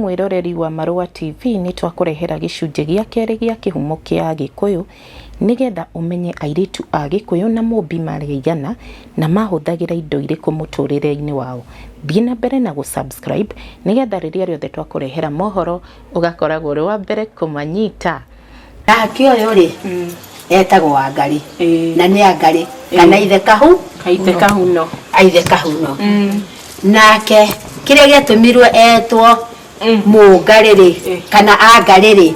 Mwĩroreri wa Marũa TV, nĩ twakũrehera gĩcunjĩ gĩa kerĩ gĩa kĩhumo kĩa Agĩkũyũ nĩgetha ũmenye airĩtu a Gĩkũyũ na Mũmbi marĩ aigana na mahũthagĩra indo irĩkũ mũtũrĩre-inĩ wao. Thiĩ na mbere na gũ subscribe nĩgetha rĩrĩa rĩothe twakũrehera mohoro ũgakoragwo ũrĩ wa mbere kũmanyita. Nake ũyũ rĩ etagwo Wangarĩ na nĩ Angarĩ kana ithe kahu Ithe Kahuno. Ithe Kahuno. Nake kĩrĩa gĩatũmirwo etwo Mũngarĩ rĩ kana Angarĩ rĩ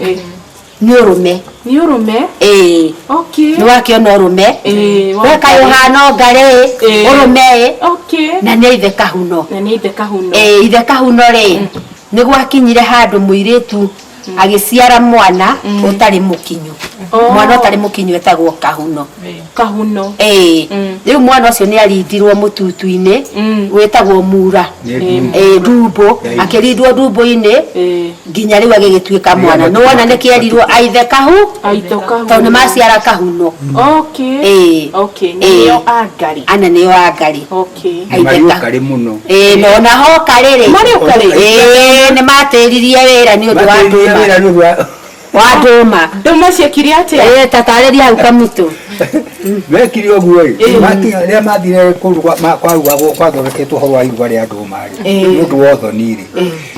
nĩ ũrũme. Nĩ ũrũme? Ĩĩ. Okay. Nĩ wakĩona ũrũme? Ĩĩ. We kaĩ ũhana Ũngarĩ ĩ, ũrũme ĩ. Okay. Na nĩ Ithe Kahuno. Na nĩ Ithe Kahuno. Ĩĩ Ithe Kahuno rĩ nĩ gwakinyire handũ mũirĩtu agĩciara mwana ũtarĩ mũkinyu mwana ũtarĩ mũkinyu etagwo kahuno kahuno ĩĩ rĩu mwana ũcio nĩ arindirwo mũtutu-inĩ wĩtagwo mura ĩĩ ndumbo akĩrindwo ndumbo-inĩ nginya rĩu agĩgĩtuĩka mwana nĩ wona nĩ kĩerirwo aithe kahu aitho kahuno tondũ nĩ maciara kahuno okay Ĩĩ. okay Ĩĩ. nĩo angari ana nĩo angari Nĩ marĩ ũkarĩ mũno Ĩĩ, no na hoka rĩrĩ Marĩ ũkarĩ? Ĩĩ, nĩ matĩririe wĩra nĩ ũndũ wa Matĩrĩria ndũma wĩra nĩ ũndũ wa wa ndũma ndũma ciekire atĩa Ĩĩ, ta tarĩria hau kamitũ mekire ũguo ĩ rĩrĩa mathire kũu gwa- ma- kwa rua gwa- gwathondeketwo ũhoro wa iruga rĩa ndũma rĩ nĩ ũndũ wa ũthoni rĩ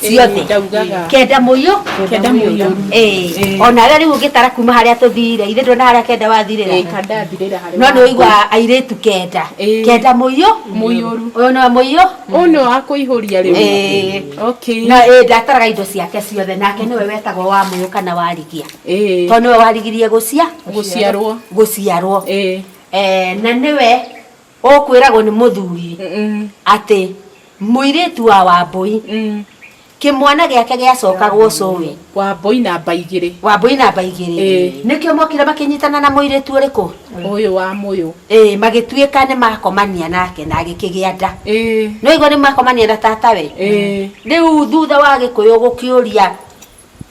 ciothe ndaugaga kenda muyo kenda muyo eh ona we riu ngitara kuma haria tuthire ithe ndona haria kenda wathirira eh kanda thirira haria no ni uigwa airitu kenda kenda muyo muyuru uyu no muyo uno akuihuria riu eh okay na eh ndataraga indo ciake ciothe nake niwe wetagwo wa muyo kana warigia eh to niwe warigirie gucia guciarwo guciarwo eh eh na niwe ũkwĩragwo nĩ mũthuri atĩ mũirĩtu wa wambũi kĩmwana gĩake gĩacokagwo cũĩ wambũi namba igĩrĩ wambũi namba igĩrĩ Ĩĩ. nĩkĩo mokire makĩnyitana na mũirĩtu ũrĩkũ ũyũ wa mũyũ Ĩĩ, magĩtuĩka nĩ makomania nake na agĩkĩgĩa nda Ĩĩ. nĩwaigua nĩ makomania na tatawe Ĩĩ. rĩu thutha wa gĩkũyũ gũkĩũria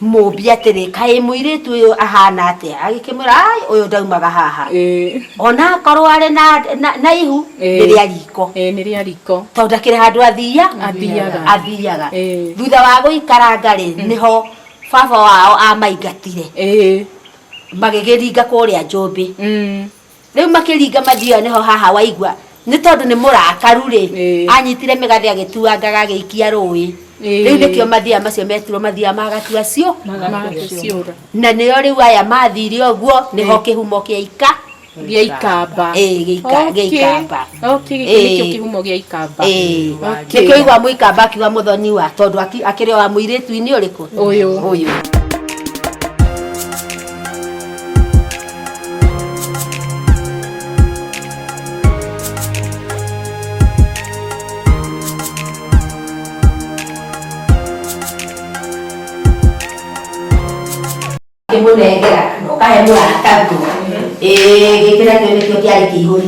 Mũmbi atĩrĩ, Kaĩ mũirĩtu ũyũ ahaana atĩa? Agĩkĩmwĩra, Ai, ũyũ ndaumaga haha. Ĩĩ. O na akorwo arĩ na- na- na ihu, Ĩĩ. nĩ rĩa riiko. Ĩĩ, nĩ rĩa riiko. Tondũ ndakĩrĩ handũ athiia- Athiiaga. athiiaga. Ĩĩ. Thutha wa gũikaranga-rĩ, nĩho baba wao amaingatire, Ĩĩ. magĩgĩringa kũũrĩa Njũmbĩ. Mm. rĩu makĩringa mathiaga nĩho haha waigua nĩ tondũ nĩ mũrakaru rĩ Ĩĩ. anyitire mĩgathĩ agĩtuangaga agĩikia rũĩ Ĩĩ. rĩu nĩkĩo mathiaga macio metirwo mathiaga magatua cio magaciũra na nĩo rĩu aya mathire ũguo nĩho kĩhumo kĩa ika gĩa ikamba Ĩĩ, gĩa ika- gĩa ikamba. okay gĩkĩ Ĩĩ. nĩkĩo kĩhumo gĩa ikamba Ĩĩ. Okay. nĩkĩo igua mũikamba akiuga mũthoni wa tondũ aki- akĩrĩ wa mũirĩtu-inĩ ũrĩkũ Ũyũ. ũyũ kĩmũnengera ũkahe mũrata nguo ĩĩ gĩkĩra kĩo nĩkĩo kĩarĩ kĩihũri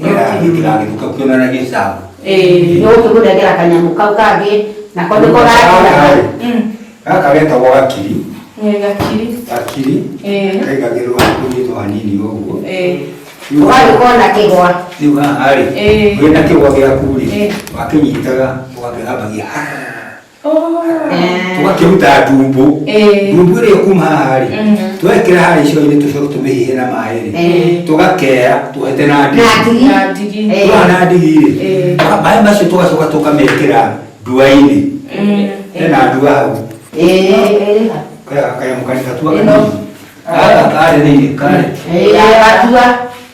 ndĩragĩtuka kuonanagia sawa nä gå tä gå nengera kanyamå kau kangä nako nä ko gakira gaka getagwo gakiri gakiri gakiri Eh. kaigagĩrwo kũnyitwo hanini ũguo å gagä korwo na kä gwa rĩu haha rĩ Eh. wĩna kĩgwa gĩaku rĩ Eh. wakĩnyitaga ũgakĩgambagia tũgakĩruta ndumbũ ndumbũ ĩrĩa kuma harĩ twekĩra harĩ icoinĩ tũcoke tũmĩhihe na maĩ-rĩ tũgakea tũhete na ndigi twa na ndigi-rĩ maĩ macio tũgacoka tũkamekĩra ndua-inĩ hena ndua hau kaya kanyamũ karĩa gatua karĩ thĩinĩ karĩ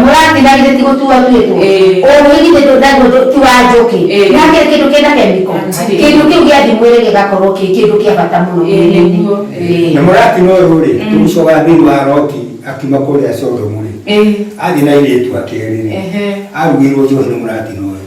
mũratigagire ti gũtua tuĩtwo ũgĩgithĩ tũndagwo ti wa njũkĩ na kĩrĩ kĩndũ kĩna kemiko kĩndũ kĩu gĩa thimwĩrĩ gĩgakorwo kĩ kĩndũ kĩa bata mũno mwĩrĩ-inĩ na mũrati no ũyũ rĩ tũgũcoka thĩinĩ wa roti akiuma kũrĩa sodomu rĩ athiĩ na airĩtu ake erĩ rĩ arugĩirwo njohi nĩ mũrati no ũyũ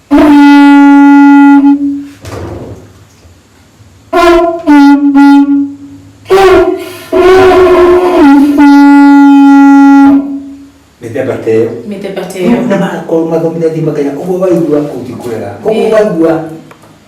mĩthemba ta ĩyo mĩthemba ta ĩyo na magakorwo mathomithĩtie makanya ũguo waigua ũngĩkũrera ũguo Ĩĩ. waigua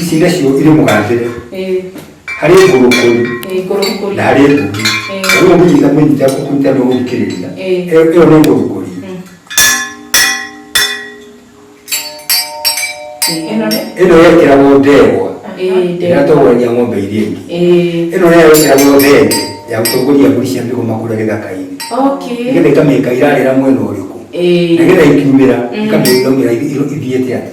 ici nacio irĩ mũgathĩre Eh, harĩ ngũrũkũri eh, ngũrũngũri. na harĩ ngũgi Eh. rĩu ũngĩnyita mũnyita kũnyita nĩ ũgũthikĩrĩria Eh. ĩyo ĩyo nĩ ngũrũkũri Mm. Eh, ĩno nĩ? ĩno yekĩragwo ndegwa Eh, ndegwa. ĩrĩa tũgũrania ng'ombe iria ingĩ Eh, ĩno nayo ĩkĩragwo thenge ya gũtongoria mbũri cia mĩgoma kũrĩa gĩthaka-inĩ okay. nĩgetha ikamĩka irarĩra mwena ũrĩkũ Eh, nĩgetha ikiumĩra Mm. ikamĩrũmĩra ithiĩte atĩ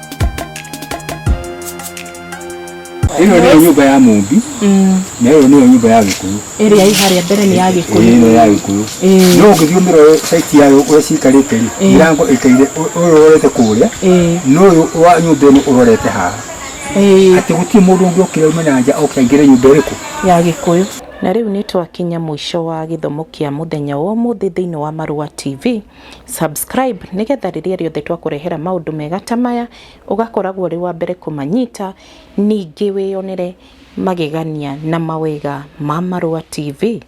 ĩno nĩyo nyũmba ya mũmbi na ĩyo nĩyo nyũmba ya gĩkũyũ ĩrĩa ĩ harĩa mbere nĩ ya ĩno gĩkũyũ ya gĩkũyũ Ĩĩ. no ũngĩthiĩ ũmĩrore saiti yayo ũrĩa cikarĩte rĩ Ĩĩ. mĩrango ĩkaire ũ- ũyũ ũrorete kũrĩa Ĩĩ. na ũyũ wa nyũmba ĩno ũrorete haha Ĩĩ, atĩ gũtirĩ mũndũ ũngĩ ũkĩra ume na nja oke aingĩre nyũmba ĩrĩkũ ya gĩkũyũ na rĩu nĩ twakinya mũico wa gĩthomo kĩa mũthenya wa ũmũthĩ thĩinĩ wa marũa tv subscribe nĩgetha rĩrĩa rĩothe twakũrehera maũndũ mega ta maya ũgakoragwo ũrĩ wa mbere kũmanyita, ningĩ wĩyonere magegania na mawega ma Marũa TV.